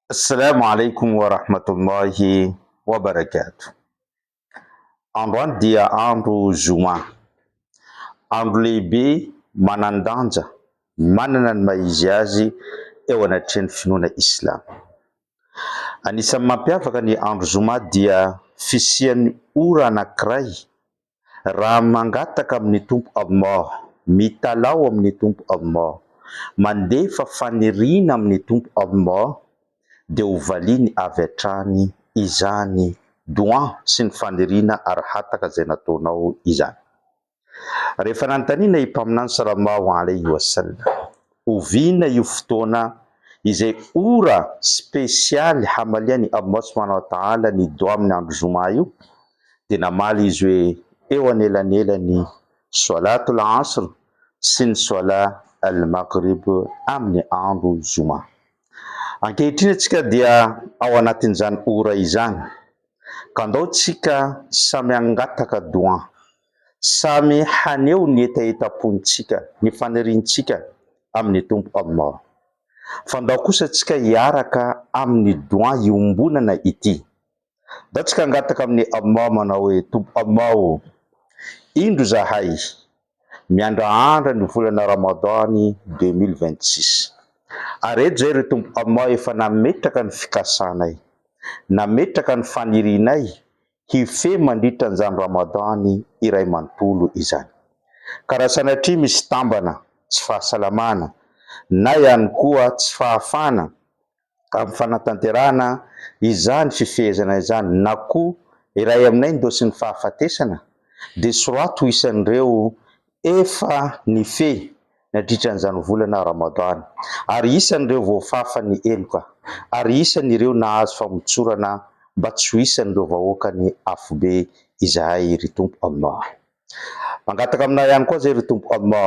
Assalamu alaikum wa rahmatullahi wa barakatuh. Androany dia andro Zoma. Andro lehibe manan-danja manana ny maha izy azy eo anatrehan'ny finoana Islamo. Anisan'ny mampiavaka ny andro Zoma dia fisian'ny ora anankiray Raha mangataka amin'ny Tompo Amor, mitalaho amin'ny Tompo Amor, mandefa faniriana amin'ny Tompo Amor, dia ho valiany avy hatrany izany Dua sy ny faniriana Arhataka izay nataonao izany. Rehefa nanontaniana i Mpaminany Sallallahu Alaihi Wasallam, Oviana io fotoana izay ora spesialy hamalian'i Allah Subhanahu Wa Ta'ala ny Dua amin'ny andro Jum'ah io? dia namaly izy hoe eo anelanelan'ny Swâlât al-'Asr sy ny Swâlât al-Maghrib amin'ny andro Zoma. Ankehitriny antsika dia ao anatin'izany ora izany, ka ndao tsika samy hangataka Doua, samy haneho ny hetahetam-pontsika, ny faniriantsika amin'ny Tompo Allah. Fa ndao kosa tsika hiaraka amin'ny Doua iombonana ity. Ndao tsika hangataka amin'i Allah manao hoe, Tompo Allah o! Indro izahay miandraandra ny volana Ramadan deux mille vingt six. Ary eto izay ry Tompo Allah efa nametraka ny fikasanay, nametraka ny fanirianay hifehy mandritra an'izany Ramadan iray manontolo izany. Ka raha sanatria misy tambana, tsy fahasalamana, na ihany koa tsy fahafahana amin'ny fanatanterahana izany fifehezana izany na koa iray aminay ny dôsin'ny fahafatesana dia soraty ho isan'ireo efa nifehy nadritra an'izany volana Ramadan ary isan'ireo voafafa ny heloka ary isan'ireo nahazo famotsorana mba tsy ho isan'ireo vahoakan'ny afobe izahay ry Tompo Allah. Mangataka aminao ihany koa zay ry Tompo Amma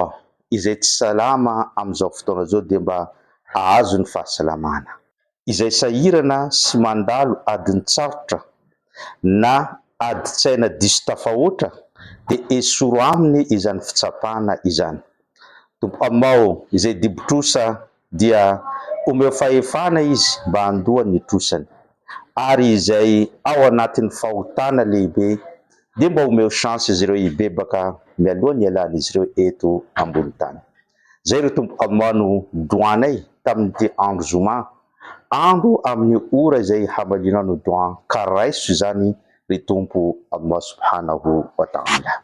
izay tsy salama amin'izao fotoana izao dia mba ahazo ny fahasalamana. Izay sahirana sy mandalo adin-tsarotra na adin-tsaina diso tafahoatra dia esoro aminy izany fitsapana izany Tompo Amma ô, izay dibo-trosa dia omeo fahefana izy mba handoa ny trosany, ary izay ao anatin'ny fahotana lehibe dia mba omeo chance izy ireo hibebaka mialoha ny hialan'izy ireo eto ambony tany. Izay ry Tompo Amoaha no doan ay tamin'ity andro zoma andro amin'ny ora izay hamalianao ny doan ka raiso izany ry Tompo Amoaha Subhanahu wa Ta'ala.